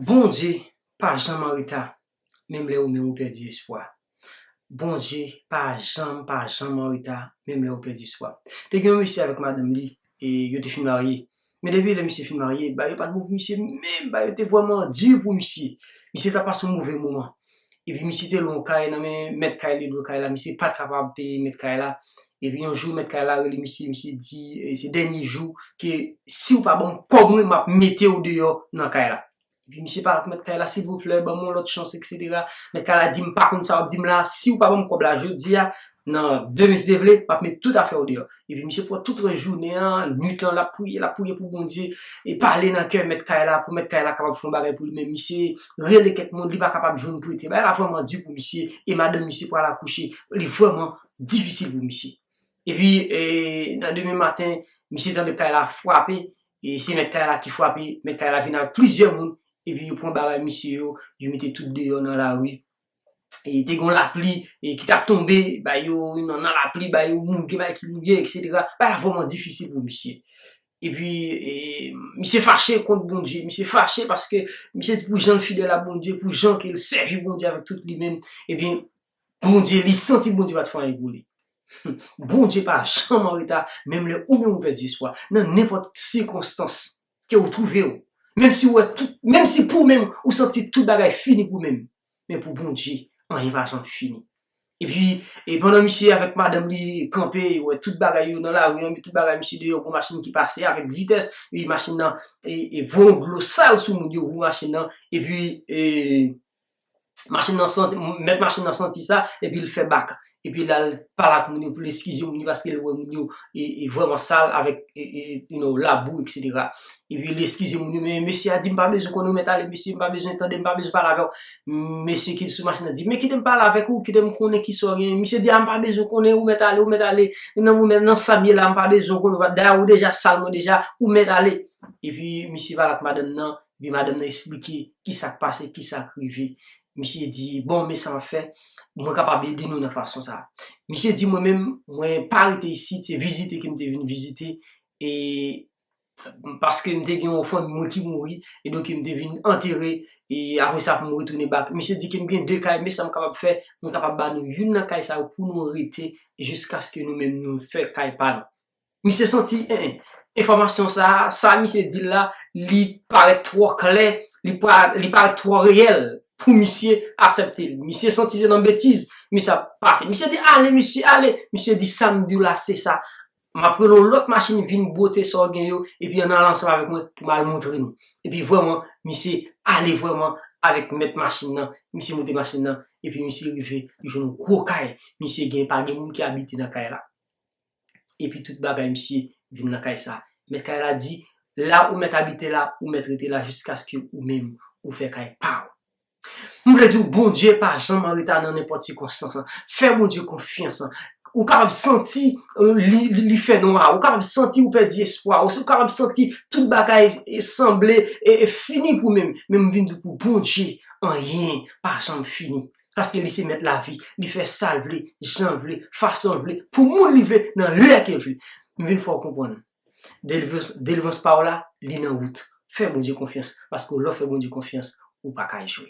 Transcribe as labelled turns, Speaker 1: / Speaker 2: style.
Speaker 1: Bondye pa janm an reta menm lè ou menm ou pèdi espwa Bondye pa janm pa janm an reta menm lè ou pèdi espwa Te gen yon mesye avèk madanm li e yo te fin marye men depi lè misye fin marye bagay yo pa t bon pou misye menm bagay yo te vrèman di pou misye misye t ap pase yon move moman Epi misye te lwen yon kay nan men mèt kay li lwe kay la misye pat kapab peye mèt kay la epi yon jou mèt kay la rele misye misye di se dènye jou ke siw pa banm kòb mwen map metew deyò nan kay la epi misye pale ak mèt kay la silvouplè banm yon lòt chans eksetera mèt kay la di m pa konn sa wap dim la siw pa banm kòb la jodia Nan demen si te vle, m ap met tout afè w deyò. Epi misye pran tout rès jounen an, nuit lan l ap priye, l ap priye pou Bondye, e pale nan kè mèt kay la pou mèt kay la kapab fè yon bagay pou li. Men misye rele kèk moun, li pa kapab jwenn prete. Bagay la vrèman di pou misye, e madanm misye pral akouche, li vrèman difisil pou misye. Epi, nan demen maten, misye tande kay la frape, e se mèt kay la ki frape, mèt kay la vin avèk plizyè moun, epi yo pran bagay misye yo, yo mete tout deyò nan lari, e te gon lapli e ki tap tonbe bay yo nan nan lapli bay yo moun ki bay ki mouye etc bay la vrèman difisil pou misye epi e misye fache kont Bondye misye fache paske misye pou janl fidèl a Bondye pou jan kel sèvi Bondye avèk tout li menm ebyen Bondye li santi Bondye pat fè anyen pou li humm Bondye pa janm anreta menm lè ou menm ou pèdi espwa nan nenpòt sikonstans ke ou twouve ou, menm si ou wè tout, menm si pou ou menm ou santi tout bagay fini pou ou menm, men pou Bondye anyen pa janm fini. Epi, e pandan misye avèk madanm li kanpe, yo wè tout bagay yo nan lari an, tout bagay misye deyò, gwo machin ki pase avèk vitès, epi machin nan voyon dlo sal sou moun yo, gwo machin nan, epi e. Machin nan santi, mèt machin nan santi sa, epi l fè bak. Epi l al pale ak moun yo pou l eskize moun yo paske l wè moun yo vrèman sal avèk labou eksetera. Epi l eskize moun yo, men mesye a di m pa bezwen konnen ou mèt ale mesye, m pa bezwen tande, m pa bezwen pale avè w. Mesye ki sou machin nan di, men kite m pale avèk ou, kite m konnen ki sa w genyen. Misye di a m pa bezwen konnen ou mèt ale, ou mèt ale. Nan mwen menm, nan sa m ye la, m pa bezwen konnen ou. Dayè ou deja sal mwen deja, ou mèt ale. Epi misye pale ak madanm nan, Epi madanm nan esplike ki sa k pase, ki sa k rive. Misye di, bon, men sa m ap fè, mwen kapab ede nou nan fason sa a. Misye di, mwen menm, mwen pa rete isit, se vizite ke m te vin vizite, e paske m te gen yon fanmi mwen ki mouri, e donk m te vin antere, e apre sa pou m retounen bak. Misye di ke m gen de kay, men sa m kapab fè, mwen kapab ba nou youn nan kay sa yo pou nou rete jiskaske nou menm nou fè kay pa nou. Misye santi enfòmasyon sa a, sa misye di l la, li parèt twò klè, li parèt twò reyèl pou misye asèpte l. Misye santi se nan betiz misye ap pase. Misye di, ale mesye, ale! Misye di, sa m di w la, se sa. M ap rele yon lòt machin vin bwote sa w gen yo, epi ann ale ansanm avèk mwen pou m al montre nou. Epi vrèman, misye ale vrèman avèk mèt machin nan. Misye monte machin nan, epi misye rive, li jwenn yon gwo kay. Misye gen, pa gen moun ki abite nan kay la. epi tout bagay misye vin nan kay sa. Mèt kay la di, La ou mèt abite la, ou mèt rete la jiskaske ou menm ou fè kay pa ou. M vle di w Bondye pa janm an reta nan nenpòt sikonstans. Fè Bondye konfyans. Ou kapab santi li fè nwa, ou kapab santi ou pèdi espwa, ou kapab santi tout bagay sanble fini pou menm, men m vin di w pou Bondye anyen pa janm fini. Paske li se mèt lavi, li fè sa l vle, jan l vle, fason l vle, pou moun li vle, nan lè ke l vle. M vin fè w konprann. Delivrans pa w la, li nan wout. Fè Bondye konfyans, paske w lè w fè Bondye konfyans, ou pa ka echwe.